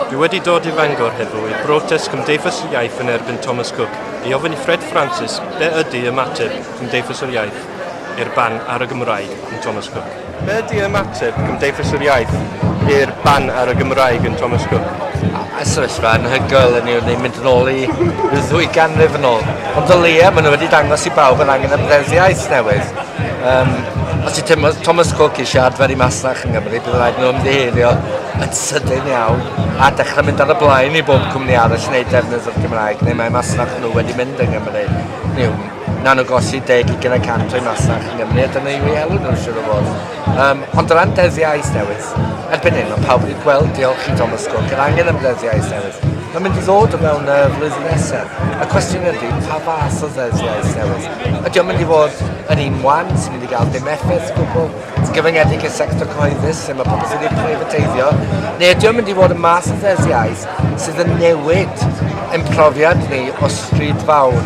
Dwi wedi dod i Fangor heddiw i'r brotest Cymdeithas yr Iaith yn erbyn Thomas Cook i ofyn i Fred Francis be ydy ymateb Cymdeithas yr Iaith i'r ban ar y Gymraeg yn Thomas Cook. Be ydy ymateb Cymdeithas yr Iaith i'r ban ar y Gymraeg yn Thomas Cook? A sefyllfa anhygoel yn yw'n ei mynd yn ôl i ddwy ganrif yn ôl. Ond o leia, maen nhw wedi dangos i bawb yr angen am ddeddf iaith newydd. Um, os ti teimlo Thomas Cook i siarad fer i masnach yng Nghymru, bydd rhaid nhw ymddiheirio yn sydyn iawn a dechrau mynd ar y blaen i bob cwmni arall wneud defnydd o'r Gymraeg neu mae masnach nhw wedi mynd yng Nghymru. Niw, na nhw gosi deg i gyda cant o'i masnach yng Nghymru a dyna yw ei elw nhw siwr o fod. Um, ond o ran dyddiau newydd, erbyn hyn mae pawb wedi gweld diolch i Thomas Cook yr angen am ddyddiau newydd. Mae'n mynd i ddod o mewn y flwyddyn nesaf. Y cwestiwn ydy, pa fath o ddyddiau newydd? Ydy o'n mynd i fod yn un wan sy'n mynd i gael dim effaith gwbl, sy'n gyfyngedig i'r sector cyhoeddus sy'n mae pobl sy'n wedi preifateiddio, neu ydy o'n mynd i fod yn mas o ddesiais sydd yn newid yn profiad ni o stryd fawr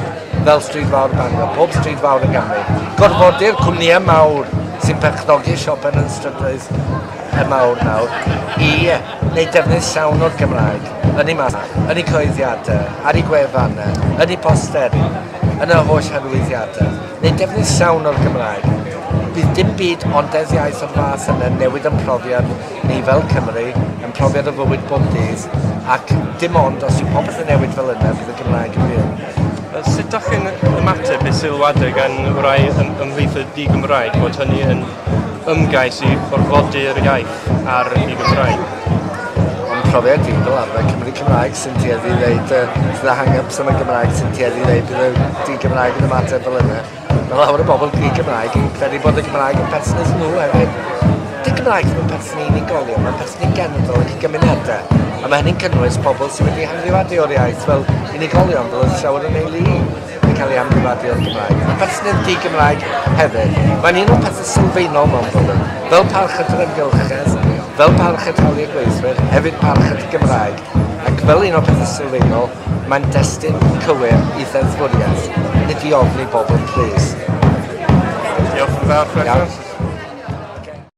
fel stryd fawr Bangor, pob stryd fawr yn Gymru. Gorfodi'r cwmnïau mawr sy'n perchnogi siopen yn strydoedd y mawr nawr i wneud defnydd llawn o'r Gymraeg yn ei mas, yn ei coeddiadau, ar ei gwefannau, yn ei posteri. yn yr holl arwyddiadau, neu defnydd llawn o'r Gymraeg. Bydd dim byd ond deddf iaith o'r fath yna yn newid yn profiad ni fel Cymry, yn profiad o fywyd bob dydd, ac dim ond os yw popeth yn newid fel yna fydd y Gymraeg yn fyw. Sut dach chi'n ymateb i sylwadau gan rai ym, ymhlith y di-Gymraeg bod hynny yn ymgais i orfodi'r iaith ar y Gymraeg. Mae'n profiad fi fel arfer Cymry Cymraeg sy'n tueddu i ddeud uh, sydd â hang-ups am y Gymraeg sy'n tueddu i ddeud bydd y di-Gymraeg yn ymateb fel yna. Mae lawer o bobl di-Gymraeg yn credu bod y Gymraeg yn perthynas nhw hefyd. Di Gymraeg ddim yn perthyn i unigolion, mae'n perthyn i genedl ac i gymunedau. A mae hynny'n cynnwys pobl sydd wedi hanfrifadio o'r iaith fel unigolion, fel oedd llawer yn ei lu. yn cael ei amgyfadu o'r Gymraeg, a pherthnedd di-Gymraeg hefyd. Mae'n un o'r pethau sylfaenol mewn ffordd, fel parch at yr amgylchedd, fel parch at hawliau gweithwyr, hefyd parch at y Gymraeg, ac fel un o'r pethau sylfaenol, mae'n destun cywir i ddeddfwriaeth, nid i ofni bobl plîs. Diolch yn fawr, Fred.